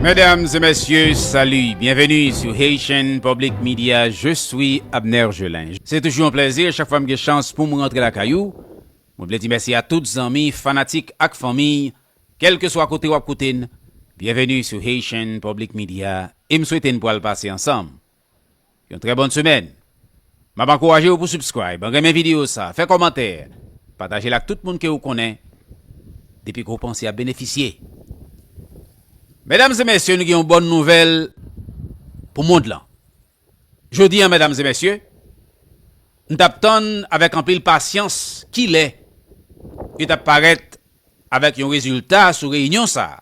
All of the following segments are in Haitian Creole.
Mesdames et messieurs, salut! Bienvenue sur Haitian Public Media, je suis Abner Gelin. Se toujou yon plèzi chak fwa m gen chans poum rantre lakay ou. Mwen vle di mèsi a tout zanmi, fanatik ak fanmi, kèlkeswa kote wap koute n, bienvenue sur Haitian Public Media e m swete n pwal pase ansanm. Yon trè bòn semèn. Map ankourajew pou subscribe, renmen video sa, fè kòmantè, patajel ak tout moun ke ou konnen depi ke ou panse yap benefisye. Medam e mesye nou gen yon bòn nouvèl pou mond lan. Jodi an medam e mesye, m tap tann avèk anpil pasyans kilè yo tap parèt avèk yon rezilta sou reyinyon sa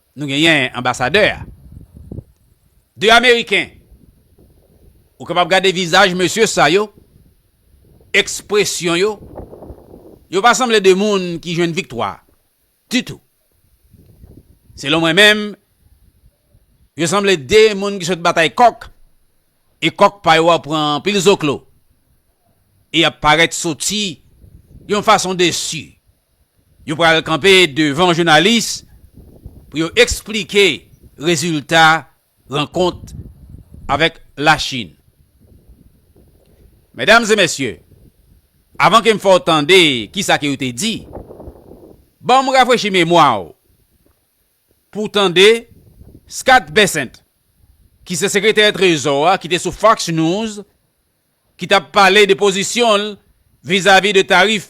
Nou genyen anbasadè a. 2 ameriken. Ou kapab gade vizaj mesye sa yo, ekspresyon yo, yo pa sanble 2 moun ki jwenn viktwa ditou. Selon mwen menm, yo sanble 2 moun ki sot batay kòk e kòk pa yo a pran anpil zoklo e y ap parèt soti yon fason desi. Yo pral kanpe devan jounalis pou yo eksplike rezilta rankont avèk Lachin. Medam e mesye, avan ke m fè w tande kisa ke yo te di, ban m rafrechi memwa w pou w tande Scott Bessent, ki se sekretè trezò a ki te sou Fox News, ki t ap pale de pozisyon l vizavi de tarif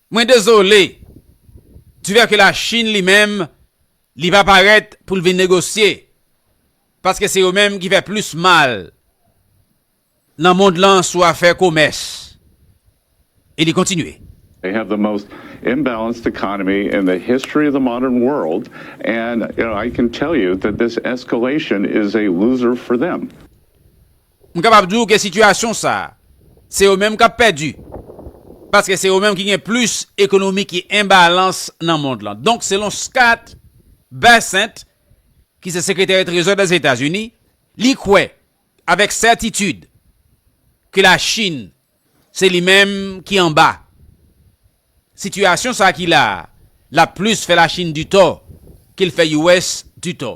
Mwen dezole, du fait que la Chine li menm li pa parèt pou l vin negosye, paske se yo menm ki fè plis mal nan mond lan sou afè komès. E li kontinye. They have the most imbalanced economy in the history of the modern world and I can tell you that this escalation is a loser for them. M kapab di w ke sitiyasyon sa a, se yo menm k ap pèdi, paske se yo menm ki gen plis ekonomi ki enbalans nan mond lan. Donk, selon Scott Bessent, ki se sekretè trezò Dèzetazini, li kwè avèk sètitid ke Lachin se li menm ki anba sitiyasyon sa a ki la a, l ap plis fè Lachin ditò ke l fè US ditò.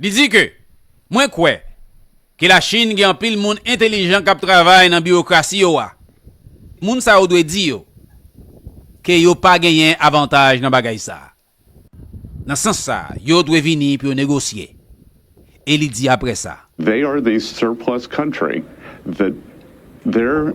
Li di ke, Mwen kwè ke Lachin gen anpil moun entelijan kap travay nan biwokrasi yo a. Moun sa yo dwe di yo ke yo pa genyen avantaj nan bagay sa. Nan sans sa, yo dwe vini pou yo negosye. E li di apre sa. They are the surplus country that their.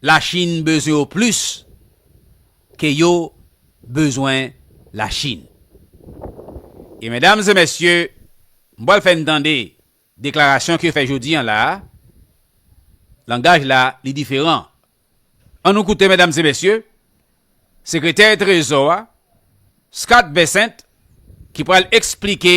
La chine bezwen yo plis ke yo bezwen la chine. E medam e mesye m pwal fè n tande deklarasyon ke yo fè jodi an la a, langaj la li diferan. An nou koute medam e mesye sekretè trezò a Scott Bessent ki pwal eksplike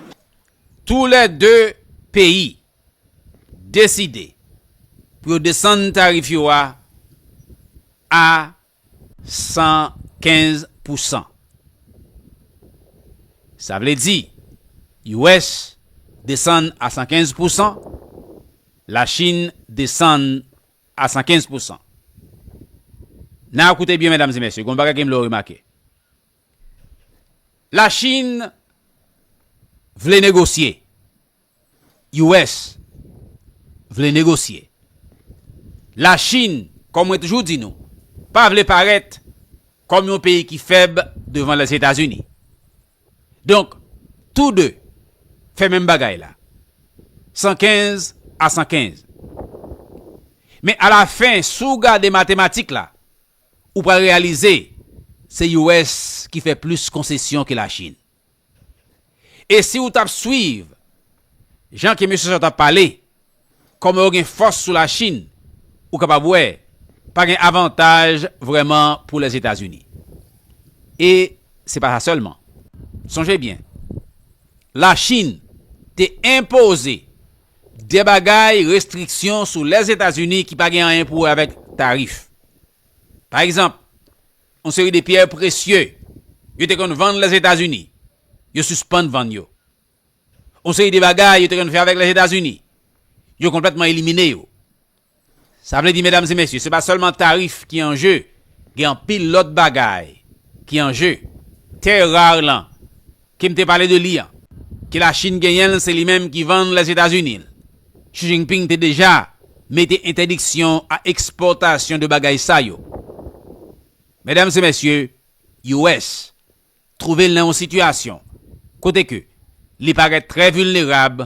Tou lè 2 peyi deside pou yo desann tarif yo a a 115 pou san. Sa vle di US desann a 115 pou san, La Chin desann a 115 pou san. Nan koute byen medam e mesye, gon bagay ke m vle w remake. La Chin vle negosye. US vle negosye. La Chin, kòm mwen toujou di nou, pa vle parèt kòm yon peyi ki fèb devan Lèzetazini. Donk, tou de fè menm bagay la. 115 a 115. Men a la fen, si w gade matematik la, ou pral reyalize se US ki fè plis konsesyon ke Lachin. E si ou t ap swiv jan ke mesye sa yo t ap pale, kòman yo gen fòs sou Lachin, ou kapab wè pa gen avantaj vrèman pou Lèzetazini. E se pa sa sèlman. Sonje byen, Lachin te enpoze de bagay restriksyon sou Lèzetazini ki pa gen anyen pou wè avèk tarif. Pa egzanp, yon seri de pyè presye yo te konn vann Lèzetazini, yo sispann vann yo. Yon seri de bagay yo te konn fè avèk Lèzetazini, yo konplètman elimine yo. Sa vle di, medam e mesye, se pa sèlman tarif ki an je, gen anpil lòt bagay ki an je. Tè rar lan, Kim te pale de li an, ke Lachin genyen l se li menm ki vann Lèzetazini l. Xi Jinping te deja mete entèdiksyon a ekspòtasyon de bagay sa yo. Medam e mesye, US twouve l nan yon sitiyasyon kote ke li parèt trè vilnerab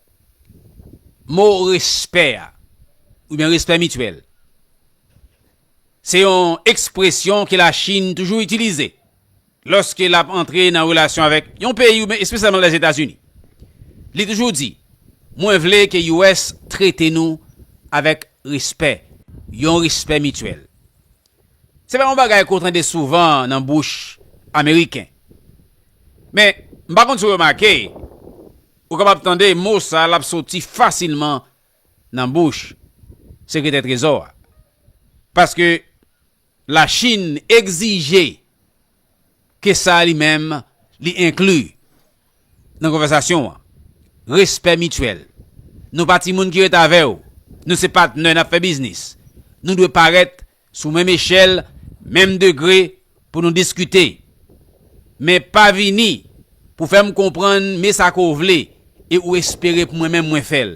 Mo respè a, oubyen respè mityèl, se yon ekspresyon ke Lachin toujou itilize lòske l ap antre nan relasyon avèk yon peyi oubyen espesyalman Lèzetazini. Li toujou di, Mwen vle ke US trete nou avèk respè, yon respè mityèl. Se pa yon bagay ke w tande souvan nan bouch Ameriken. Men, m pa konn si w remake, ou kapab tande mo sa l ap soti fasilman nan bouch Sekretè Trezò a. Paske Lachin egzije ke sa li menm li enkli nan konvèsasyon an. Respè mityèl. Nou pa timoun ki ret avè w. Nou se patnè n ap fè biznis. Nou dwe parèt sou menm echèl, menm degre pou nou diskite. Men pa vini pou fè m konprann me sa ke w vle e ou espere pou mwen menm mwen fè l.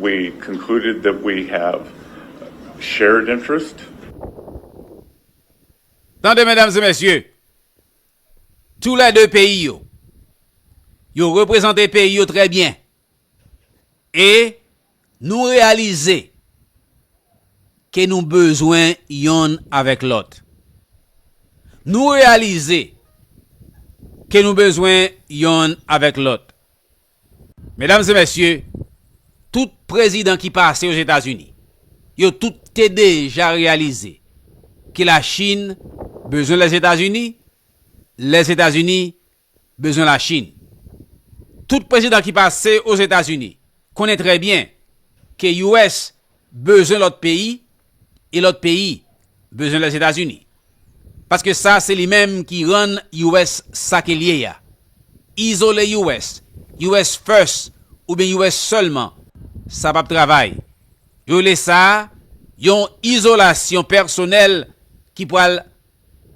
We concluded that we have shared interest. Tande medam e mesye, tou lè 2 peyi yo, yo reprezante peyi yo trè byen e nou reyalize ke nou bezwen yonn avèk lòt. Nou reyalize ke nou bezwen yonn avèk lòt. Medam e mesye, tout prezidan ki pase Ozetazini, yo tout te deja reyalize ke la Chin bezwen Lèzetazini, Lèzetazini bezwen la Chin. Tout prezidan ki pase Ozetazini konnen trè byen ke US bezwen lòt peyi e lòt peyi bezwen Lèzetazini. Paske sa se li menm ki rann US sa ke l ye a. Izole US, US first oubyen US sèlman, sa p ap travay. Yo rele sa yon izolasyon pèsonèl ki pral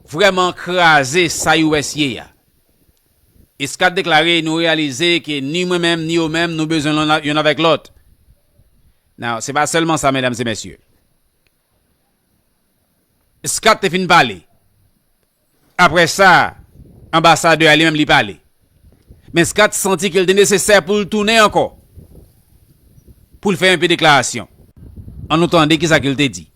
vrèman kraze sa US ye a. E Scott deklare nou reyalize ke ni mwen menm ni yo menm nou bezwen yonn avèk lòt. Now, se pa sèlman sa medam e mesye. Scott te fin pale. Aprè sa, anbasadè a li menm li pale. Men Scott santi ke li te nesesè pou li tounen ankò. Pou li fè yon pe deklarasyon. An nou tande ki sa ke li te di.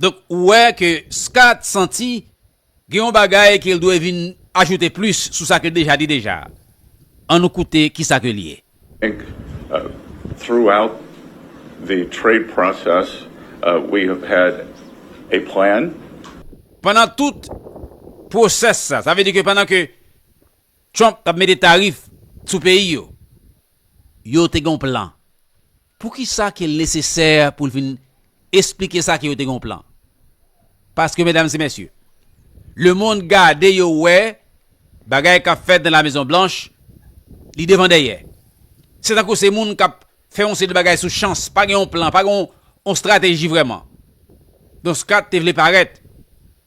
Donk ou wè ke Scott santi gen yon bagay ke l dwe vin ajoute plis sou sa ke l deja di deja. An nou koute kisa ke li ye. Inc, Throughout the trade process we have had a plan. Pandan tout pwosès sa, sa vle di ke pandan ke Trump kap mete tarif sou peyi yo. Yo te gen yon plan. Poukisa ke l nesesè pou l vin esplike sa ke yo te gen yon plan? Paske medam e mesye, le mond gade yo wè bagay kap fèt nan la mezon blanch, li devan dèyè. Se tankou se moun kap fè yon seri de bagay sou chans, pa gen yon plan, pa gen yon strateji vreman. Don Scott te vle parèt.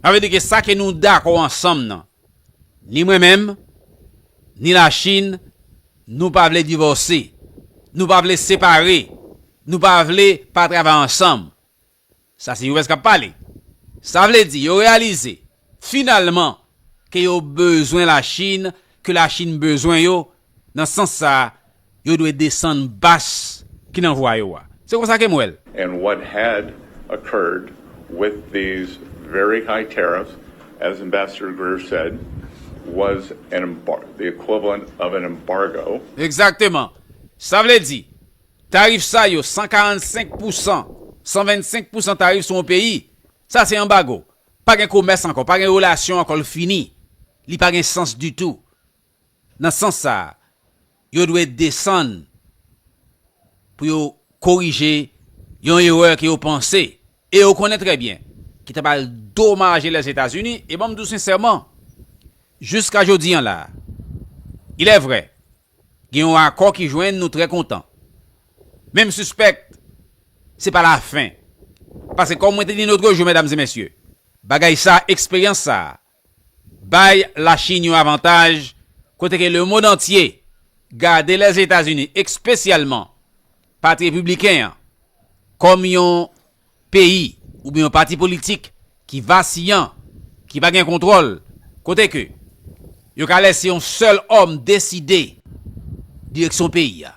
Sa vle di ke sa ke nou dakò ansanm nan, ni mwen menm, ni la Chine, nou pa vle divòse, nou pa vle separe, nou pa vle pa travay ansanm. Sa se US kap pale. Sa vle di yo reyalize finalman ke yo bezwen la Chine, ke la Chine bezwen yo, Nan sans sa, yo dwe desann bas ki nan vwa yo a. Se konsa ke m wè l. And what had occurred with these very high tariffs, as Ambassador Greer said, was an the equivalent of an embargo. Exactement. Sa vle di, tarif sa yo, 145 pou san, 125 pou san tarif sou yon peyi, sa se anbago. Pa gen komès ankò, pa gen relasyon ankò, l fini. Li pa gen sans ditou. Nan sans sa, yo dwe desann pou yo korije yon erè ke yo panse, e yo konnen trè byen, ki ta pral domaje Lèzetazini, e banm di w sensèman, jiska jodi an la, ilèvrè, gen yon akò ki jwenn nou trè kontan, men m sispèk se pa lafen, paske kòm mwen te di lotrejou, mèdam e mèsye, bagay sa, eksperyans sa, bay la Chine yon avantaj kote ke le mond antye gade les Etats Unis ekspesyalman pati repibliken an kòm yon peyi oubyen yon pati politik ki vasiyan, ki pa gen kontwòl, kote ke yo ka lèse yon sèl òm deside direksyon peyi a.